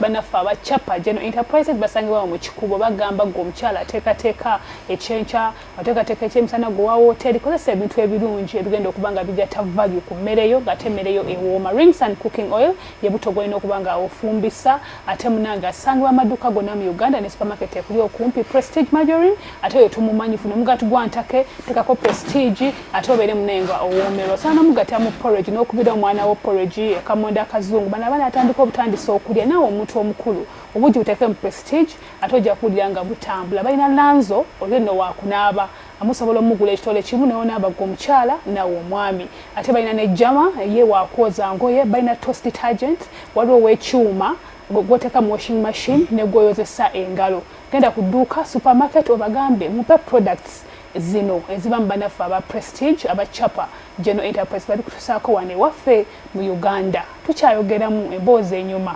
Banaffe aba Chapa General Enterprises basangibwa mu Kikubo bagamba gwe omukyala ateekateeka ekyenkya ateekateeka ekyemisana gwe wa wooteeri kozesa ebintu ebirungi ebigenda okuba nga bigatta value ku mmere yo ng'ate emmere yo ewooma rings and cooking oil ye buto gwolina okuba nga ofumbisa ate munange asangibwa amaduuka gonna mu Uganda ne supermarket ekuli okumpi prestige margarine ate oyo tumumanyi funa omugati gwa ntake tekako prestige ate obeere munenga owoomerwa osobola nomugatta mu porridge n'okubira omwana wo porridge ekamonda akazungu bano abaana atandika obutandisa okulya naawe omuntu omukulu obugi buteeke mu prestige ate ojja kuwulira nga butambula balina lanzo olyo nno waakunaaba amusobola omugula ekitole kimu newonaaba gwe omukyala nawe omwami ate balina ne jama ye waakwoza ngoye balina toast detergent waliwo owekyuma gwoteka mu washing machine negwoyozesa engalo Genda ku dduuka, supermarket, obagambe mupe products zino eziva mu banaffe aba Prestige aba Chapa General Enterprise babikutusaako wano ewaffe mu Uganda. Tukyayogeramu emboozi enyuma.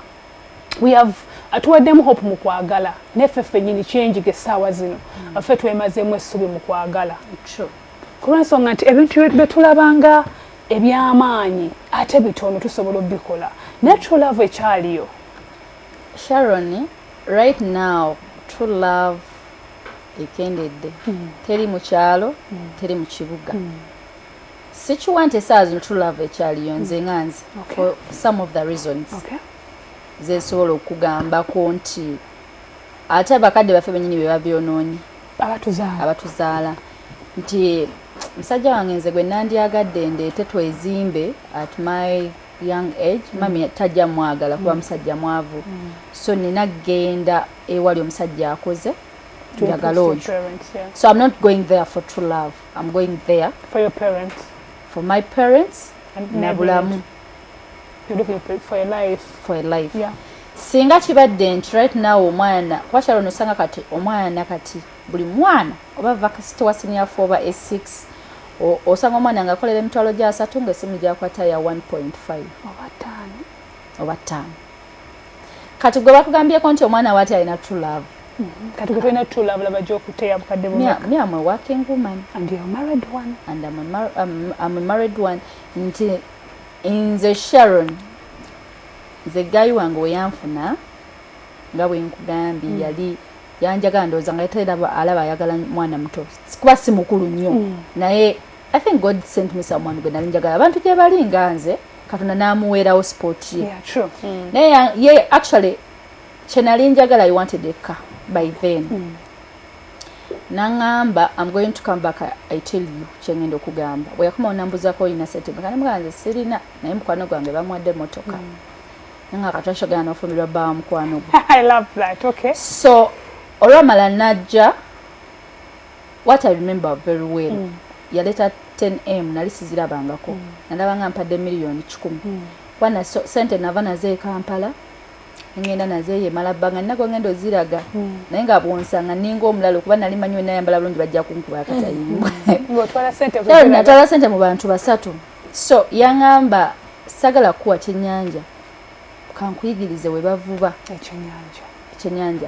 We have atuwaddemu hope mu kwagala naye ffe ffennyini kyenjiga essaawa zino mm. ffe twemazeemu essubi mu kwagala kulwensonga nti ebintu bye tulabanga eby'amaanyi ate bitono tusobola obikola naye true love ekyaliyo sharon Right now true love ekendedde mm. teri mu kyalo mm. teri mu kibuga mm. sikiwa nti esaawa zino true love ekyaliyo nze mm. nga nze okay. for some of the reasons okay. zesobola okugambako nti ate abakadde baffe benyini be babyonoonye abatuzaala abatuzaala nti musajja wange nze gwe nandyagadde ndeete twezimbe at my young age mm. mami tajja mwagala kuba mm. musajja mwavu mm. so nina genda ewali omusajja akoze njagala oyo so i'm not going there for true love i'm going there for your parents for my parents nabulamu singa kibadde nti right now omwana kuba kyalo nosanga kati omwana kati Buli mwana oba vakasite wa siniya fo oba A6 osanga omwana ng'akolera emitwalo gya asatu ng'essimu gy'akwata ya 1.5 oba ttaano kati gwe bakugambyeko nti omwana waati alina true love mm-hmm. kati gwe tolina true love laba gyokuteya bukadde bumeka am a working woman and you're married one and I'm a, mar I'm, I'm a married one nti nze sharon nze gayi wange weyanfuna nga bwenkugambye mm. yali yanjagala ndowooza nga yatera alaba ayagala mwana muto kuba si mukulu nnyo mm. naye i think god sent me someone gwe nali njagala abantu gye bali nga nze katonda n'amuweerawo sport ye mm. naye ye actually kye nali njagala i wanted a car by then mm. nangamba am going to come back i tell you kyengenda okugamba bwe yakoma onambuzako olina sente mekanamuganze sirina naye mukwano gwange bamwadde motoka nga kati akyogera n'ofumbirwa bba wa mukwano gwe so olwamala najja what i remember very well mm. yaleeta 10m nali sizirabangako mm. nalaba nga mpadde miliyoni kikumi mm. wana so, sente nava nazo ekampala ngenda nazo eyo emala bbanga nina gwengenda oziraga mm. naye nga bwonsanga ninga omulala okuba nali manyi wenayambala bulungi bajja kunkuba akatayimbwa mm. natwala sente mu bantu basatu so yangamba sagala kuwa kyenyanja kankuyigirize we bavuba ekyenyanja ekyenyanja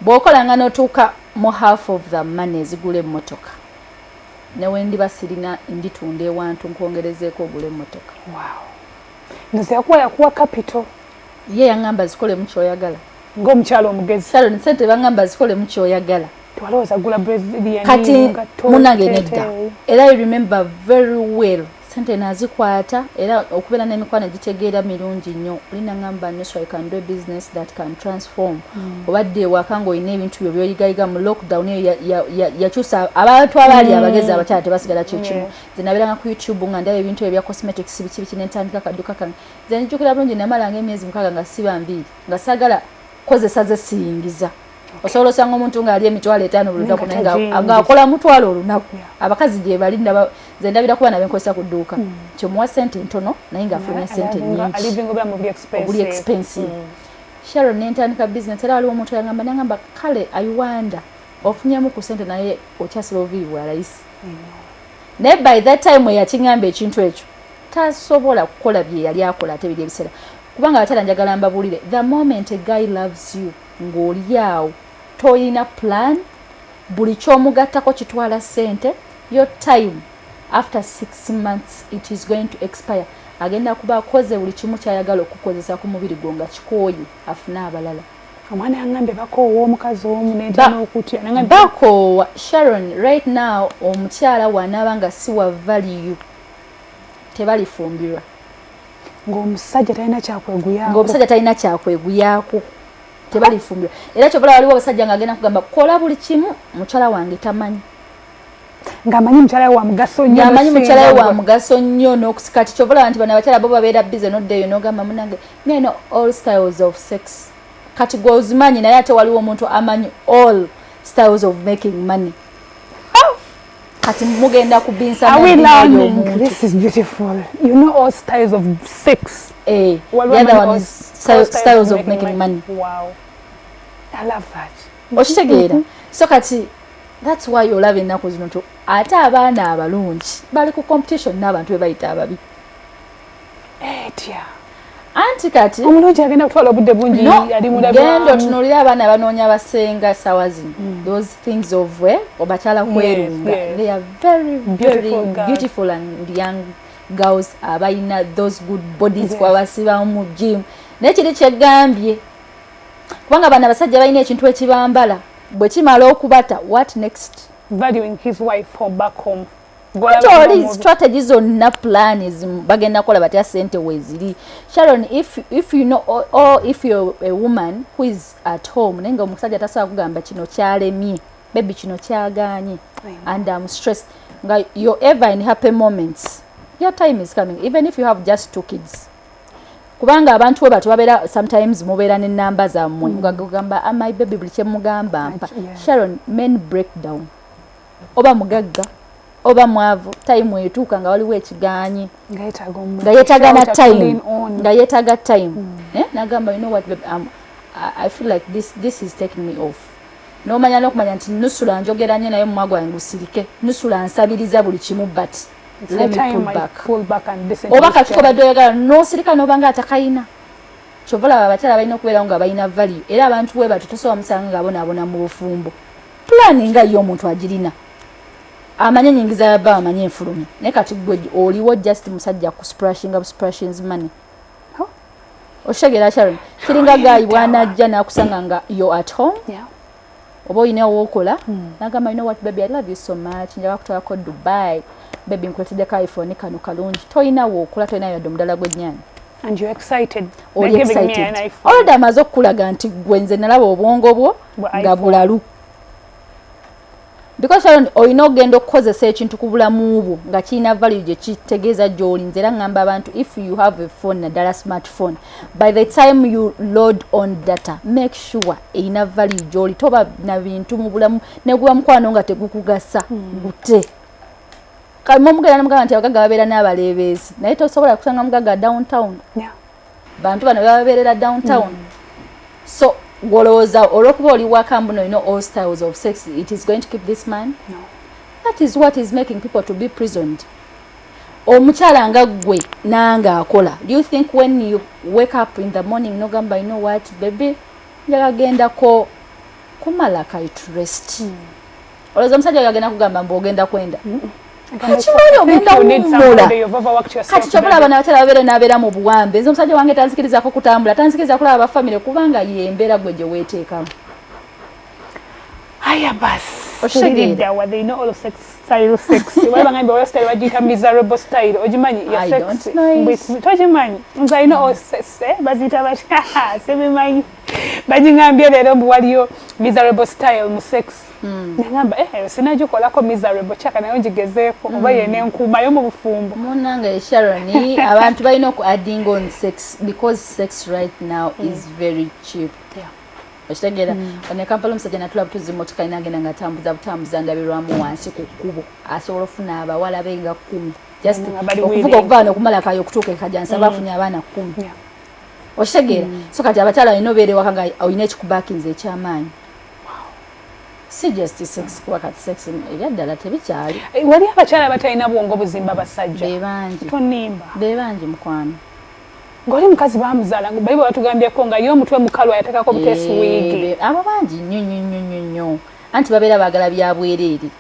bwokola nga notuuka mu half of the money ezigula emmotoka newendiba sirina nditunda ewantu nkwongerezeeko ogula emmotoka wow. nze yakuwa yakuwa capital ye yangamba zikolemu kyoyagala ng'omukyalo omugezi salon sente bangamba zikole mukyoyagala twalowooza gula kati munange nedda era i remember very well sente nazikwata era okubeera n'emikwano egitegeera mirungi nnyo olina ngamba nyo so i can do business that can transform mm. obadde ewaka ngaolina ebintu byo byoyigayiga mu lockdown eyo yakyusa abantu abaali mm. abagezi abakyala tebasigala kyekimu yeah. zenabiranga ku youtube nga ndaba ebintu ebyo bya cosmetics biki biki nentandika kaduka kange zenijjukira bulungi namalanga emyezi mukaaga nga siba mbiiri nga sagala kozesa ze siyingiza osobola osanga omuntu ng'ali emitwalo etaano buli lunaku naye ng'akola mutwalo olunaku abakazi gye bali nze ndabira kuba nabe nkozesa ku dduuka hmm. kyomuwa sente ntono naye ng'afulumya sente nyingiobuli expensive hmm. sharon nentandika bizinesi era waliwo omuntu yangamba nangamba kale iwanda ofunyemu ku sente naye okyasula obuviiri bwa layisi hmm. naye by that time eyakiŋamba ekintu ekyo tasobola kukola bye yali akola ate biri ebiseera kubanga abakyala njagala mbabulire the moment a guy loves you ng'olyawo toyina plan buli kyomugattako kitwala sente your time after six months it is going to expire agenda kuba akoze buli kimu kyayagala okukozesa ku mubiri gwo nga kikooyi afune abalala omwana yangambye bakoowa omukazi omu nenokutya bakoowa sharon right now omukyala wanaaba nga siwa valiyu tebalifumbirwa ng'omusajja talina kyakweguyako ng'omusajja talina kyakweguyako tebalifumbirwa era kyobola waliwo abasajja nga agenda kugamba kola buli kimu mukyala wange tamanyi ng'amanyi mukyala wa mugaso nnyo amanyi mukyala we wa mugaso nnyo n'okusika ti kyobola nti bano abakyala bo babeera bize noddeeyo n'ogamba munange naye no all styles of sex kati gwe ozimanyi naye ate waliwo omuntu amanyi all styles of making money kati mugenda kubinsa okitegeera so kati thats why olaba ennaku zino nti ate abaana abalungi bali ku competition n'abantu bebayita ababi etya anti kati omulungi agenda kutwala obudde bungi ali mulabigenda otunulira abaana banoonya basenga sawa zino mm. those things of we eh, obakyala kwerunga they are very very beautiful and young girls abalina those good bodies kwabasibamu mu gym naye kiri kyegambye kubanga bana abasajja balina ekintu ekibambala bwe kimala okubata what next valuing his wife from back home kutoli strategy zonna plan bagenda kola batya sente weziri sharon if, if you know or, or if you're a woman who is at home naye nga omusajja tasobola kugamba kino kyalemye bebi kino kyaganye and am stress nga you're ever in happy moments your time is coming even if you have just two kids kubanga abantu we batu babeera sometimes mubeera ne namba zammwe mm. ngagamba amai ah, bebi buli kyemugamba mpa sharon men breakdown oba mugagga oba mwavu time etuuka nga waliwo ekigaanyi nga yetaga na time nga yetaga time hmm. eh, nagamba you know what babe, um, I feel like this, this is taking me off nomanya nokumanya nti nusula njogera nyo naye mumwa gwange gusirike nusula nsabiriza buli kimu but let me pull back pull back and listen oba katuko badde oyagala nosirika nobanga atakayina kyovola abakyala balina okubeerawo nga balina value era abantu we batu tosobola musanga nga bonaabona mu bufumbo pulani nga ye omuntu agirina amanye enyingiza ya bba amanye enfulumi naye kati gwe oliwo just musajja ku sprashinga busprashins money okitegeera sharon kiringa gaayi bwanajja nakusanga nga yo at home oba olina owokola hmm. nagamba yino wat baby i love you so much njaga kutwalako dubai baby nkuletedde ka iphone kano kalungi tolina wokola tolina yadde omudala gwennyanya olidde amaze okukulaga nti gwenze nalaba obwongo bwo nga bulalu because sharon olina okugenda okukozesa ekintu ku bulamu bwo nga kirina value gye kitegeeza gy'oli nze era ngamba abantu if you have a phone naddala smartphone by the time you load on data make sure erina value gy'oli toba na bintu mu bulamu neguba mukwano nga tegukugasa hmm. gute kamumugera namugamba nti abagaga babeera n'abaleebeezi naye tosobola kusanga mugaga downtown bantu bano bebabeerera downtown mm. so gwolowooza olwokuba oli waka mbuno olina all styles of sex it is going to keep this man no. that is what is making people to be prisoned omukyala nga ggwe nange akola do you think when you wake up in the morning nogamba you know what baby njagagendako kumala kaitrest mm. olowooza omusajja oyo agenda kugamba mbu ogenda kwenda kimanyi ogenda wummula kati kyobula abana abakyala babeere nabeera mu buwambe nze omusajja wange tanzikirizako kutambula tanzikiriza kulaba bafamire kubanga yembeera gwe gye weeteekamu aya basi oshiridda wa they know all sex style sex wala ngambe wala style wajita miserable style ojimanyi ya sex mbisi tojimanyi nza ino all sex eh bazita ba semi manyi bajingambye lero mbu waliyo miserable style mu sex Hmm. nengamba eh, eh sinagikolako miserable chaka nayo ngigezeeko oba hmm. yene nkuumayo mu bufumbo munange sharon abantu balina oku adding on sex because sex right now hmm. is very cheap okitegeera one kampala omusajja natula butuzi motoka ina agenda nga atambuza butambuza ndabirwamu wansi ku kkubo asobola ofuna abawala be nga kkumi just okuvuga okuva wano okumala kayo okutuuka ekajansi aba afunye abaana kkumi okitegeera so kati abakyala olina obeera ewaka nga olina ekikubakinza ekyamaanyi si just sex kuba kati sex ebya ddala tebikyali eh, wali abakyala batalina bwongo buzimba basajja bebangi tonimba bebangi mukwano ngoli mukazi bamuzala bayibo batugambyeko nga ye omutwe mukalu ayatekako butesi eh, wigi abo bangi nyo nyo nyo nyo nyo anti babeera bagala byabwereere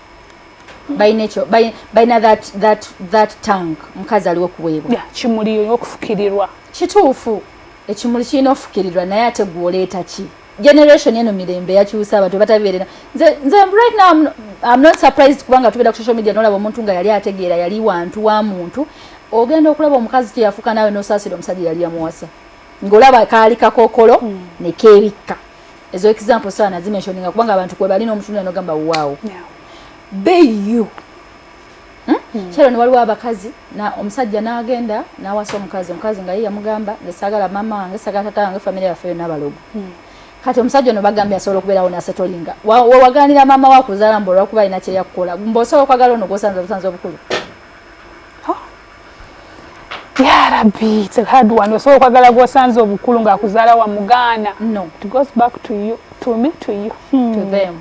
balina that, that, that tank mukazi aliwo kuweebwa yeah, kimuli okufukirirwa kituufu ekimuli kirina ofukirirwa naye ate gwoleeta ki generation eno mirembe yakyusa abantu batabiberera nze nze right now I'm, I'm not surprised kubanga tubera ku social media nolaba omuntu nga yali ategeera yali wantu wa muntu ogenda okulaba omukazi kyeyafuka nawe nosasira omusajja yali yamuwasa ngolaba kaali kakokolo mm. ne kebikka ezo example sana zimentioninga kubanga abantu kwe bali n'omutundu anogamba wow yeah. be you kyero ne waliwo abakazi omusajja n'agenda n'awasa omukazi omukazi nga ye yamugamba nze saagala maama wange saagala tata wange famire yaffe yonna balogo hmm. kati omusajja ono bagambye asobola okubeerawo nasetolinga wewagaanira maama wakuzaala mbu olwakuba alina kyeyakukola mbu osobola okwagala ono gwosanze obusanzi obukulu yarabi it's a hard one osobola okwagala gwosanze obukulu ng'akuzaala wamugaana no it goes back to you to me to you hmm. to them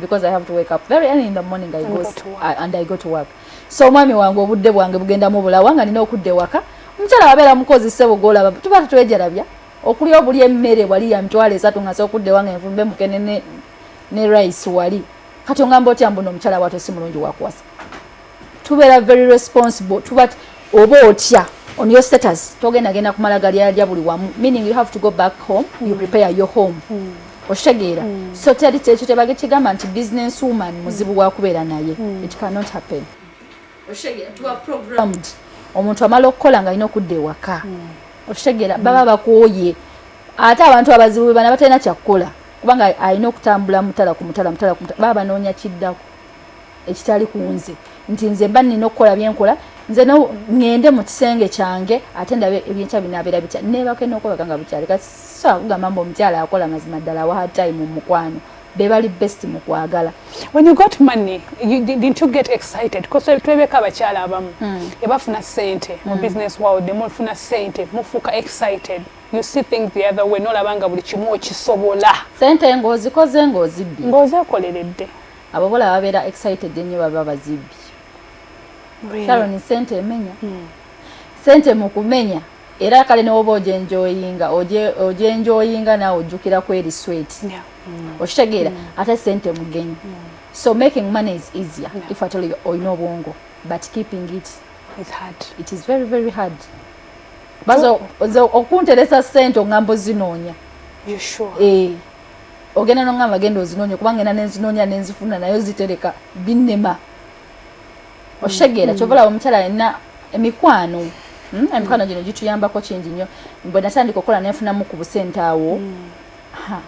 because i have to wake up very early in the morning i go and i go to work so omwami wange obudde bwange bugenda mu bulawa nga nina okudda ewaka omukyala wabeera mukozi sebo gwolaba tuba tetwejalabya okulya obuli emmere wali ya mitwalo esatu nga sokudda ewange nvumbe mukene ne, ne rice wali kati ongamba otya mbuno omukyala watwe si mulungi wakuwasa tubeera very responsible tuba oba otya on your status togenda genda kumala galyalya buli wamu meaning you have to go back home mm. you prepare your home mm. okitegeera mm. so teri kyekyo tebage kigamba nti business woman mm. muzibu wakubeera naye mm. it cannot happen programmed omuntu amala okukola nga alina okudda ewaka mm. okitegeera mm. baba bakooye ate abantu abazibu bebana batalina kyakukola kubanga alina okutambula mutala ku mutala mutala ku mutala baba banoonya kiddako ekitali ku nze nti nze mba nina okukola byenkola nze ngende mu kisenge kyange ate ndabe ebyenkya binabeera bitya nebako enokubaga nga bukyali kasobola kugamba mbu omukyala akola mazima ddala wa hard time mu mukwano bebali best mu kwagala when you got money you didn't you get excited because twebeka abakyala abamu hmm. ebafuna sente mu hmm. business world nemufuna sente mufuuka excited you see things the other way nolabanga buli kimu okisobola sente ng'ozikoze ng'ozibbye ng'ozekoleredde Ababola babera excited ennyo baba bazibbi. Really? Sharon sente emenya. Hmm. Sente mu kumenya era kale newoba ojenjoyinga ojenjoyinga nawe ojjukira kweri sweet yeah. mm. okitegeera mm. ate sente mugenyi mm. so making money is easier yeah. if at all olina obwongo but keeping it is hard. it is very very hard baza okunteresa sente ongambo zinoonya sure. eh. ogenda nongamba genda ozinonye kuba ngenda nenzinonya nenzifuna nayo zitereka binema oshegera mm. kyobola omukyala alina emikwano hmm? emikwano gino gituyambako kingi nyo bwe natandika okukola nenfunamu ku busente awo mm.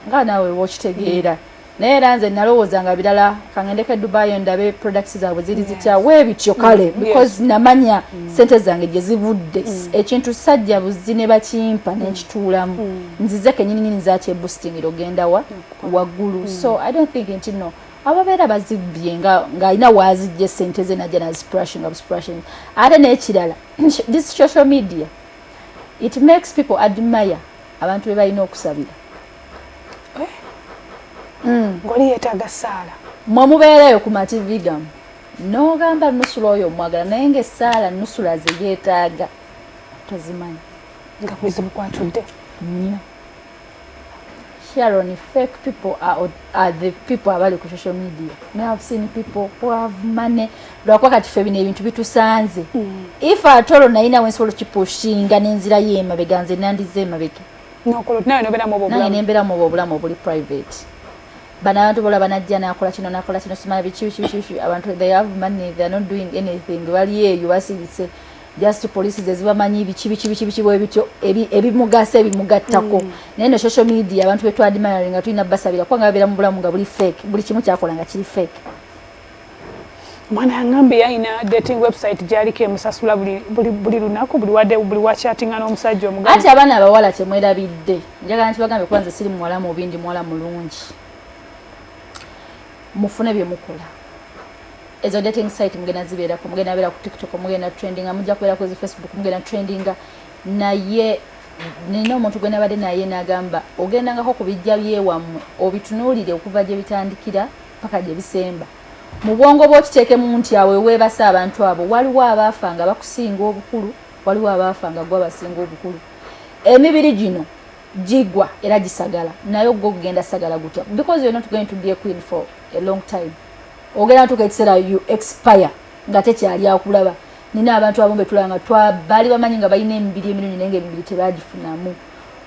nga nawe wokitegeera mm. naye era nze nalowooza nga birala kangendeko edubayo ndabe products zaabwe ziri zitya webityo kale mm. because namanya mm. sente zange gye zivudde mm. ekintu sajja buzi ne bakimpa nenkituulamu nzize kenyini nyini zakye boosting ogenda wa wagulu so i don't think nti no ababeera bazibbye ng'alina waazijja esente ze najja naziprushing absprushing ate n'ekirala this social media it makes people admire abantu be balina okusabira eh? hmm. ngoli yetaaga saala mwe mubeerayo ku mativi gamu n'ogamba nusula oyo omwagala naye ngaesaala nusula ze yeetaaga tozimanyi nga kuzibu kwatudde nnyo Sharon, fake people are, are the people abali ku social media. Me have seen people who have money. Lwakuba kati ffe bino ebintu bitusanze. Mm. If at all nayina we nsobola okipushinga n'enzira ye emabega nze nandize emabega. Naye nembera mu obulamu obuli private. Bano abantu bola banajja nakola kino nakola kino simala biki biki biki abantu they have money they are not doing anything bali eyo basirise. just police zezibamanyi biki biki biki biki bwebityo ebimugasa ebimugattako mm. naye no social media abantu betu admiring nga tulina basabira kubanga babeera mu bulamu nga buli fake buli kimu kyakola nga kiri fake mwana yangambe yayina dating website gyaliko emusasula buli lunaku buli wade buli wachatinga n'omusajja omugaa ati abaana abawala kyemwerabidde njagala nti bagambe kuba nze siri muwala mubi ndi muwala mulungi mufune bye mukola ezo dating site mugenda zibeerako mugenda beera ku tiktok mugenda trendinga mujja kubeera kwezi facebook mugenda trendinga naye nina omuntu gwe nabadde naye nagamba ogendangako ku bijja byewammwe obitunuulire okuva gye bitandikira paka gye bisemba mu bwongo bwokiteekemu nti awo eweebasa abantu abo waliwo abaafa nga bakusinga obukulu waliwo abaafa nga gwe abasinga obukulu emibiri gino gigwa era gisagala naye ogwo ogugenda sagala gutya because you're not going to be a queen for a long time ogenda tuka ekiseera you expire nga tekyali akulaba nina abantu abamu betulaba nga twabali bamanyi nga balina emibiri emirungi naye nga emibiri tebagifunamu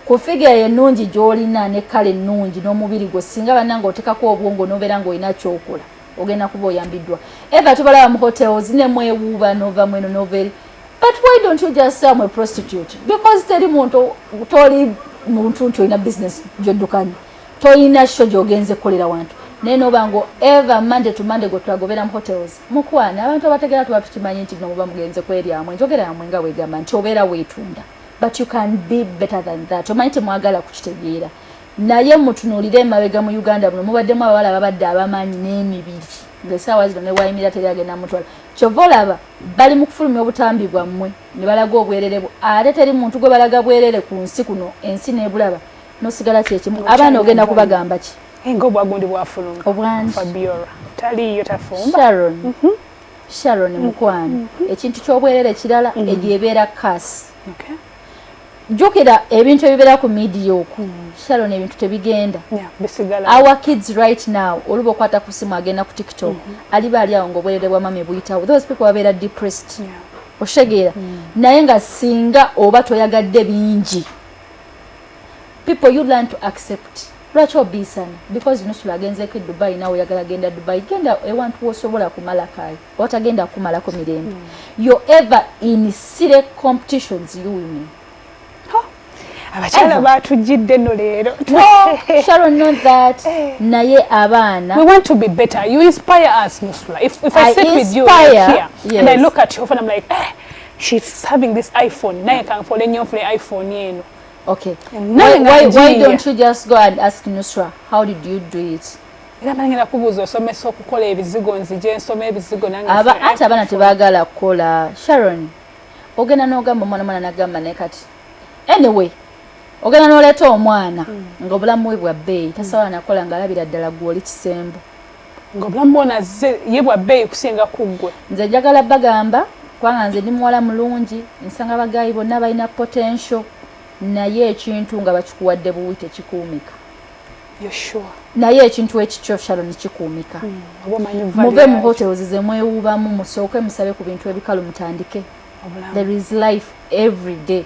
ku figa enungi gyolina ne kale ennungi n'omubiri gwo singa bananga otekako obwongo nobeera nga olina kyokola ogenda kuba oyambiddwa eva tubalaba mu hotels ne mwewuuba nova mweno noveri but why don't you just say am a prostitute because teri muntu toli muntu nti olina business gyoddukanya Toyina show gyogenze kukolera wantu naye noba ngo ever Monday to Monday go twagobera mu hotels mukwana abantu abategera tuba tukimanyi nti no muba mugenze kweryamwe njogera yamwe nga wegamba nti obeera weetunda but you can be better than that omanyi temwagala kukitegeera naye mutunuulire emabega mu uganda buno mubaddemu abawala babadde abamaanyi n'emibiri ngaesaawa zino newayimira teri agenda mutwala kyova olaba bali mu kufulumya obutambi bwammwe ne balaga obwererebu ate teri muntu gwe balaga bwerere ku nsi kuno ensi nebulaba nosigala kyekimu abaana ogenda kubagamba ki enga obwagundi bwafuluma obwangi fabiora taliyo tafumba sharon mm -hmm. sharon mhm. mukwano mm -hmm. ekintu kyobwerere kirala mm -hmm. egyo ebeera kasi okay. jukira ebintu ebibeera ku midiya oku mm. sharon ebintu tebigenda yeah, our kids right now oluba okwata ku simu agenda ku tiktok mm -hmm. aliba ali awo ngaobwerere bwa mama ebuyitawo those people babeera depressed yeah. oshegeera mm. naye nga singa oba toyagadde bingi people you learn to accept lwaki obiisana because nusula agenzeko edubai nawe oyagala genda dubai genda ewantu wosobola kumala kayo watagenda kukumalako mirembe mm. yo ever in sire competitions you women abakyala batujjidde no leero eh. naye abaana we want to be better you inspire us nusula if, if I, I sit with you here yes. and I look at you and I'm like eh, she's having this iphone naye kanfole nnyo nfule iphone eno okay why, why, why don't you just go and ask nusra how did you do it era bangenda kubuuza osomesa okukola ebizigo nzije nsoma ebizigo nanate abaana tebagala kukola sharon ogenda nogamba omwana mwana nagamba naye kati anyway ogenda noleeta omwana hmm. nga obulamu bwe bwa bbeeyi tasobola nakola nga alabira ddala gwoli kisembo nga obulamu bwona azze ye bwa bbeeyi kusinga ku ggwe nze njagala bagamba kubanga nze ndi muwala mulungi nsanga bagayi bonna balina potential naye ekintu nga bakikuwadde buwi tekikuumika naye ekintu ekikyo sharon kikuumika hmm, muve mu hotels zemwewuubamu musooke musabe ku bintu ebikalu mutandike there is life every day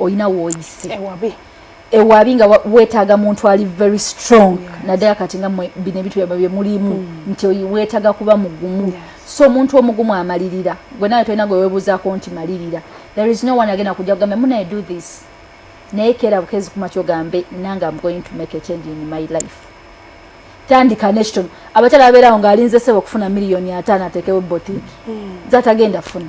olina woyise ewabi ewabi nga wetaaga muntu ali very strong yes. naddala kati nga bino ebintu byaba bye mulimu mm. nti wetaaga kuba mugumu yes. so omuntu omugumu amalirira gwe nawe tolina gwe webuuzaako nti malirira there is no one agenda kujja kugamba munaye do this naye keera bukezi kuma kyogambe nange am going to make a change in my life tandika nekitono abakyala babeerawo ng'alinze sebo okufuna miliyoni ataano ateekewo botiki mm. zatagenda funa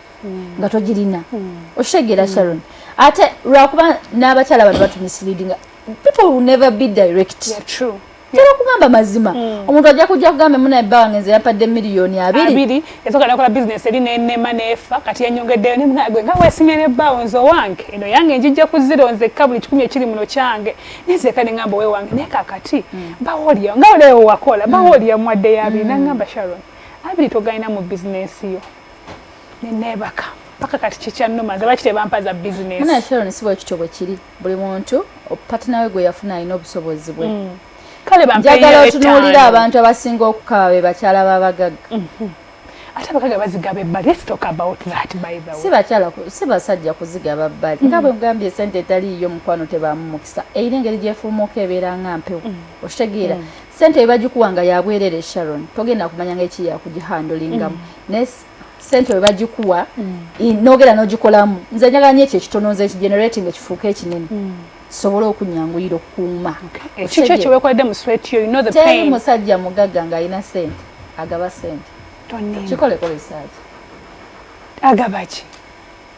mm. nga togirina mm. okitegeera mm. sharon ate lwakuba n'abakyala bano batumisleadinga people will never be direct yeah, true tera kugamba mazima hmm. omuntu ajja kujja kugamba muna bba wange nze yampadde miliyoni abiri esoka nakola bizinesi eri nenema neefa kati yanyongeddeyo ne munagwe nga weesimye ne bbawo nze owange eno yange njijja ku ziro nzekka buli kikumi ekiri muno kyange nenzeka ne ngamba owewange naye kakati hmm. bbawo olya nga oleewo wakola bbawo hmm. olya muwadde yabiri nangamba sharon abiri togalina mu bizinesi yo neneebaka paka kati kikyannuma nze lwaki tebampa za bizinesi naye sharon si bwe kityo bwe kiri buli muntu patina we gwe yafuna alina obusobozi bwe mm. kale njagala otunuulira abantu abasinga okukaba be bakyala b'abagagga mhm. ate abagagga bazigaba ebbali let's talk about that by the way si bakyala si basajja kuzigaba bbali mm. nga bwe mugambye esente etaliiyo mukwano tebaamu mukisa eyina engeri gyefuumuuka ebeera nga mpewo mm. okitegeera sente webagikuwa nga yabwerere sharon togenda kumanya nga eki yakugihandolingamu mm. naye sente webagikuwa mm. nogera nogikolamu nze njagala nyo ekyo ekitono nze ekigenerating ekifuuka ekinene mm. sobola okunyanguyira okukuuma kikyo kyewekoledde mu swet yo teri musajja mugagga nga alina sente agaba sente kikoleko risaaki agabaki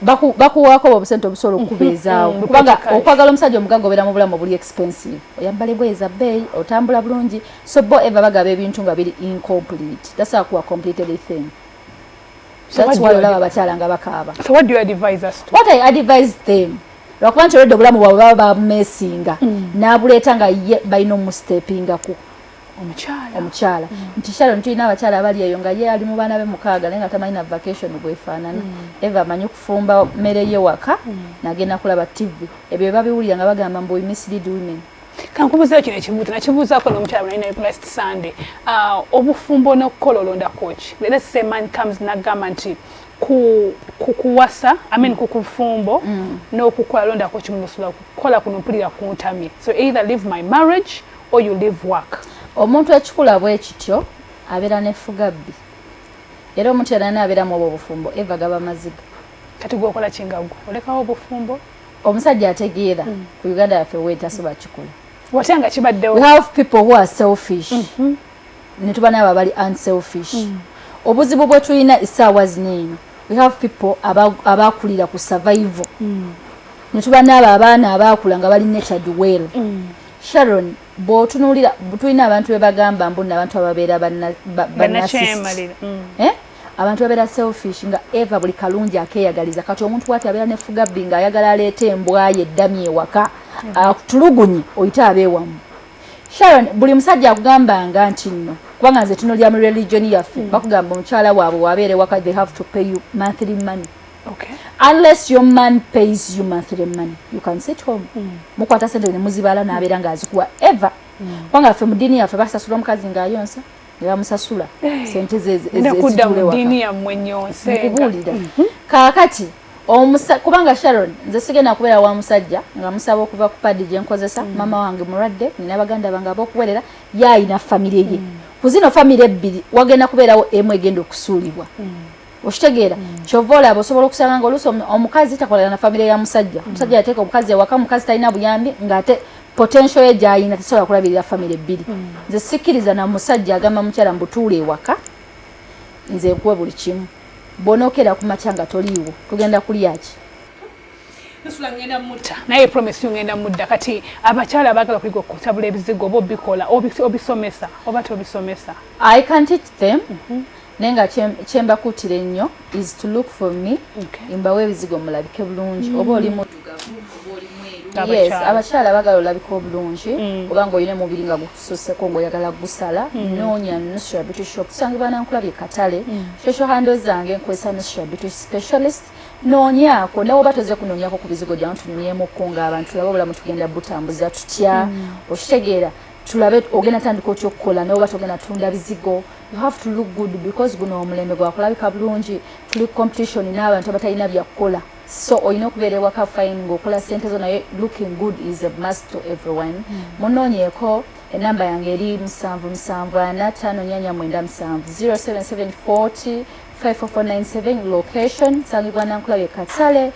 baku bakuwako obusente obusolo okubezaawo mm-hmm. kubanga okwagala omusajja omugaga obera mu bulamu obuli expensive oyambale boye za bay otambula bulungi so bo ever bagaba ebintu nga biri incomplete that's how kuwa completed a thing that's why olaba abakyala nga bakaaba so what do you advise us to what i advise them lwakuba nti olwedde obulamu bwabwe baba babumesinga mm. n'abuleeta nga ye balina omustepingako omukyala omukyala mm. nti sharon tulina abakyala abali eyo nga ye ali mu baana be mukaaga naye nga tamanyi na vacation bwefaanana mm. eva amanyi okufumba mmere ye waka mm. nagenda kulaba tv ebyo bebabiwulira nga bagamba mbu mislead women kankubuzeyo kino ekimu tenakibuuzako nomukyala bwe nalina last sunday ah, obufumbo nokukola olondakoki let's say man comes nagamba nti ku kukuwasa i mean ku kufumbo mm. n'okukola londako kimumusula kukola kuno mpulira kuntamye so either leave my marriage or you leave work omuntu ekikula bwe kityo abera ne fugabbi era omuntu yalana abera mu obufumbo eva gaba maziga kati gwe okola kingagwa olekawo obufumbo omusajja ategeera mm. ku uganda yaffe wetasoba kikula watya nga kibaddewo we have people who are selfish mm -hmm. ne tuba naabo abali unselfish mm. obuzibu bwe tulina esaawa zino eno we have people abakulira ku survival mm. ne tuba naabo abaana abaakula nga bali natured well mm. Sharon bwotunulira tulina abantu bebagamba mbu nabantu ababeera banakyemalira mm. eh? abantu babeera selfish nga eva buli kalungi akeyagaliza kati omuntu wati abeera nefugabbi nga ayagala aleeta embwayo eddami ewaka mm. atulugunye ah, oyite abeewamu sharon buli musajja akugambanga nti nno kubanga nze tunulira mu religion yaffe mm. bakugamba omukyala waabwe wabeere waka they have to pay you monthly money Okay. Unless your man pays you monthly money, you can sit home. Mm. Mukwata sente ne muzibala na abera nga azikuwa ever. Mm. Kwanga fe mudini ya fe basa sura mkazi nga yonsa. Ne bamusasula. Hey. Eh. Sente ze ze ze kuda mudini ya mwenye onse. Kubulida. Mm -hmm. Kakati omusa kubanga Sharon nze sigena kubera wa musajja nga musaba okuva ku padi je nkozesa mm. mama wange muradde nina baganda bange abokuwerera yayi na family ye. Mm. Kuzino family ebbiri wagenda kuberawo emwe gendo kusulibwa. Mm. okitegeera mm. kyova olaba osobola okusanga nga oluusi omukazi takolana na famire ya musajja mm. omusajja yateeka omukazi ewaka mukazi talina buyambi ngaate potential ye gyayina tesobola kulabirira famire ebbiri mm. nze sikkiriza na musajja agamba mukyala mbutuula ewaka nze nkuwe buli kimu bwonokeera ku makya nga toliiwo tugenda kulyaki naye promise ngenda mudda kati abakyala abagala kuyiga okutabula ebizigo oba obikola obisomesa oba tobisomesa i can teach them mm -hmm. naye nga kyembakuutira ennyo is to look for me okay. mbawo ebizigo mulabike bulungi mm. oba oli mudugavu oba oli mweru yes abakyala bagala olabika obulungi mm. oba nga olina omubiri nga gukususeko ngaoyagala gusala mm. noonya nusra beauty shop kusangibwa nankulabye katale mm. shosho hando zange nkozesa nusra beauty specialist noonyaako nawe oba toze kunoonyako ku bizigo gyamu tunyumyemuko nga abantu laba obulamu tugenda butambuza tutya mm. okitegeera tulabe ogenda tandika otya okukola nawe oba togenda tunda bizigo you have to look good because guno omulembe gwakulabika bulungi tuli competition n'abantu abatalina byakukola so olina okubeera ewaka fine ngaokola sente zo naye looking good is a must to everyone hmm. munoonyeeko enamba yange eri musanvu musanvu ana tano nyanya mwenda musanvu 07740 5497 location sangibwa nankulabye katale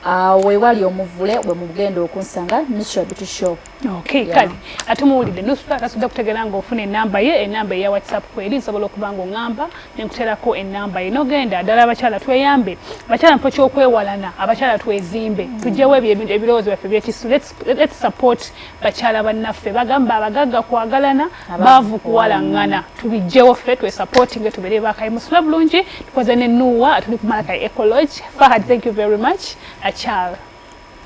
Ah, wewali omuvule wemugenda okunsanga nusra beauty shop okay yeah. kale ate muwulidde nusra kasudde kutegera nga ofuna enamba ye enamba eya whatsapp kweri nsobola okuba nga oŋamba nenkuterako enamba ye nogenda ddala abakyala tweyambe abakyala mpo kyokwewalana abakyala twezimbe mm. tujjewo ebyo ebirowoozo byaffe byekissu lets Let's support bakyala bannaffe bagamba abagagga kwagalana baavu kuwalaŋŋana tubijjewo ffe twesupportinge tubeere bakayimusula bulungi tukoze ne nuwa atuli kumalaka ecology fahad thank you very much akyala